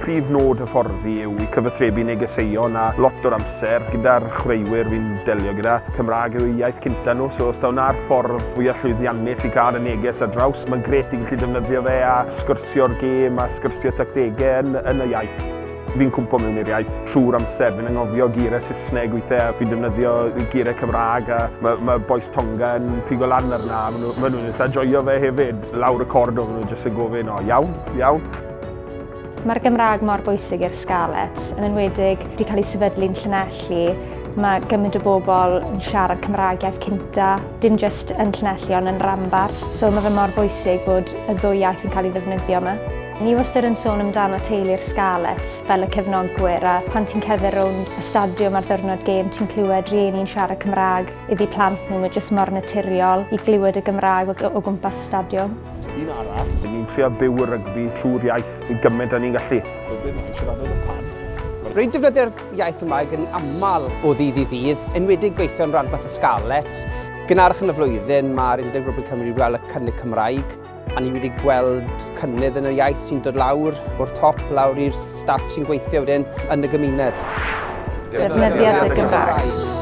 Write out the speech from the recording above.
Prif nod hyfforddi yw i cyfathrebu negeseuon a lot o'r amser gyda'r chwaraewyr fi'n delio gyda, Cymraeg yw eu iaith cynta nhw, so os taw 'na'r ffordd fwya llwyddiannus i gael y neges ar draws, mae'n grêt i gallu defnyddio fe a sgwrsio'r gêm a sgwrsio tactegau yn yn y iaith. Fi'n cwmpo mewn i'r iaith trwy'r amser. Fi'n anghofio geiriau Saesneg weithiau, fi'n defnyddio geiriau Cymraeg a mae, ma boes Tonga yn pigo lan arna. Maen nhw'n ma nhw eitha joio fe hefyd. Lawr y cordo, maen nhw'n jyst yn gofyn, o iawn, iawn. Mae'r Gymraeg mor bwysig i'r Scarlets, yn enwedig wedi cael ei sefydlu'n Llanelli. Mae gymaint o bobl yn siarad Cymraeg iaith cynta, dim jyst yn Llanelli ond yn Rambart, so mae fe mor bwysig bod y ddwy iaith yn cael ei ddefnyddio yma. Ni wastad yn sôn amdano teulu'r Scarlets fel y cefnogwyr a pan ti'n cedder rownd y stadiwm ar ddwrnod gêm ti'n clywed rhieni'n siarad Cymraeg iddi plant nhw, mae jyst mor naturiol i glywed y Gymraeg o, o gwmpas y stadiwm. Un arall. Dyn ni'n trio byw y rygbi trwy'r iaith yn gymaint â ni'n gallu. Rygbi mae'n siarad yn y pan. Rwy'n defnyddio'r iaith Gymraeg yn aml o ddydd i ddydd, enwedig gweithio yn rhanbarth y Scarlets. Gynharach yn y flwyddyn, mae'r Undeb Rygbi Cymru wedi gweld y cynnig Cymraeg A ni wedi gweld cynnydd yn y iaith sy'n dod lawr o'r top lawr i'r staff sy'n gweithio wedyn yn y gymuned. Defnyddiad y Gymraeg.